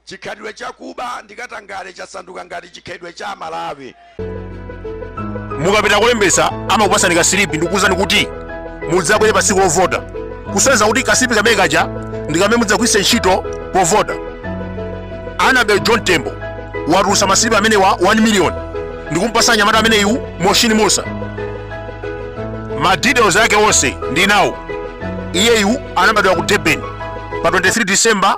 Chikhalidwe cha kuba ndi katangale chasanduka ngati chikhalidwe cha Malawi. Mukapita kolembetsa amakupasani ka silipi ndikukuuzani kuti mudzabwere pa tsiku lovota, kusonyeza kuti kasilipi kamene kaja ndi kamene mudzagwiritse ntchito povota. Annabel Mtalimanja watulutsa masilipi amenewa 1 miliyoni ndikumpasa nyamata ameneyu Moshini Musa. Ma details ake onse ndi nawo. Iyeyu anabadwa ku Durban pa 23 December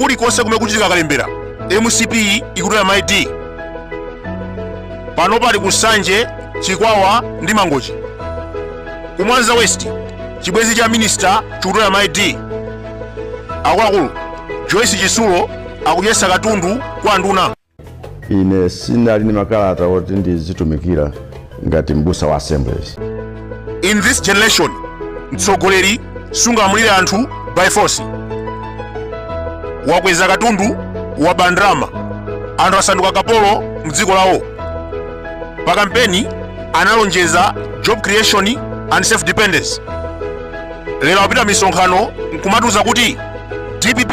kulikonse kumene kuchitika kalembera mcp ikutola maid pano pali ku nsanje chikwawa ndi mangochi ku mwanza west chibwenzi cha minista chikutola maid akuluakulu joyce chitsulo akudyetsa katundu kwa nduna ine sinali ndi makalata oti ndizitumikira ngati m'busa wa assemblies in this generation mtsogoleri sungamulire anthu by force wakweza katundu waba ndalama anthu asanduka kapolo mdziko lawo pa kampeni analonjeza job creation and self dependence lero akupita misonkhano nkumatiuza kuti dpp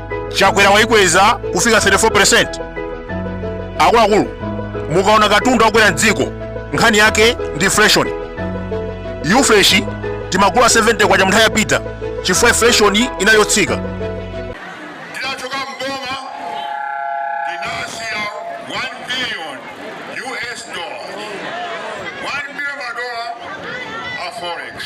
chakwera wayikweza kufika 34 akuluakulu mukaona katundu wakwera mdziko nkhani yake ndi inflation ufresh timagula 70 kwacha munthawi ya peter chifukwa inflation inali yotsika ndinachoka mboma ndinasiya 1 billion us dollar 1 billion madola a forex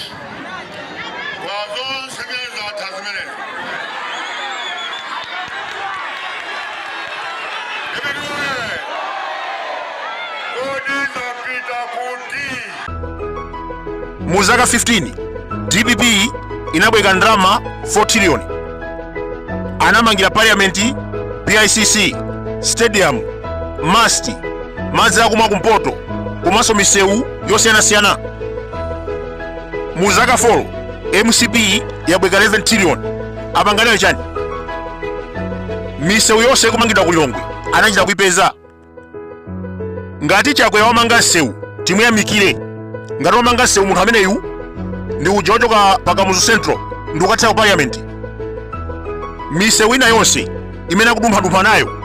mu zaka 15 dpp inabwereka ndalama 4 trillion anamangira parliament bicc stadium must madzi akumwa kumpoto komanso misewu yosiyanasiyana mu zaka 4 mcp yabwereka 11 trillion apanga nayo chani misewu yonse ikumangidwa ku lilongwe anachita kuipeza ngati chakwera wamanga msewu timuyamikire ngati wamanga msewu munthu ameneyu ndi uja wochoka pa kamuzu central ndi kukathera ku parliament misewu ina yonse imene akudumphadumpha nayo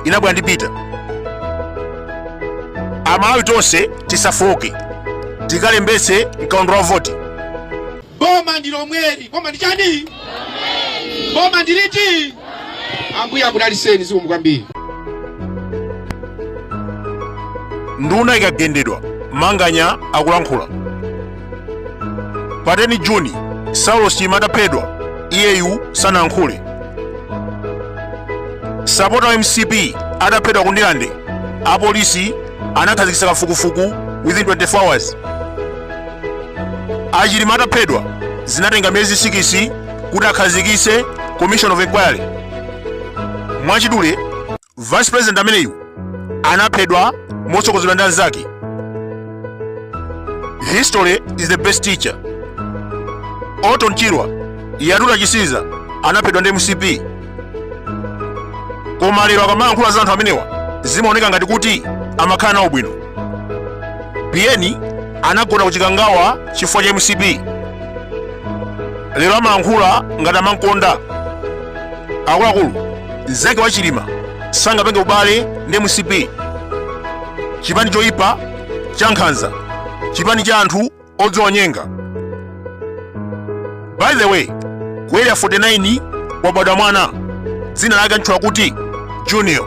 inabwera ndi peter amalawi tonse tisafooke tikalembetse mkaundula wa voti boma ndi lomweli boma ndi chani boma ndi liti ambuye akudalitseni zikomo kwambiri nduna ikagendedwa manganya akulankhula pa 10 juni saulos chilima ataphedwa iyeyu sanankhule sapota wa mcp ataphedwa ku ndilande apolisi anakhazikitsa kafukufuku within 24 hours achilima ataphedwa zinatenga miyezi sikisi kuti akhazikitse commission of inquiry mwachidule vice president ameneyu anaphedwa motsogozedwa ndi anzake history is the best teacher orton chirwa yatula chisiza anaphedwa ndi mcp koma lero akamayankhula za anthu amenewa zimaoneka ngati kuti amakhala nawo bwino biyeni anagona kuchikangawa chifukwa cha mcp lero amayankhula ngati amankonda akuluakulu nzake wa chilima sangapange ubale ndi mcp chipani choyipa cha nkhanza chipani cha anthu odzionyenga by the way ku area 49 wabadwa mwana dzina lake antchula kuti junior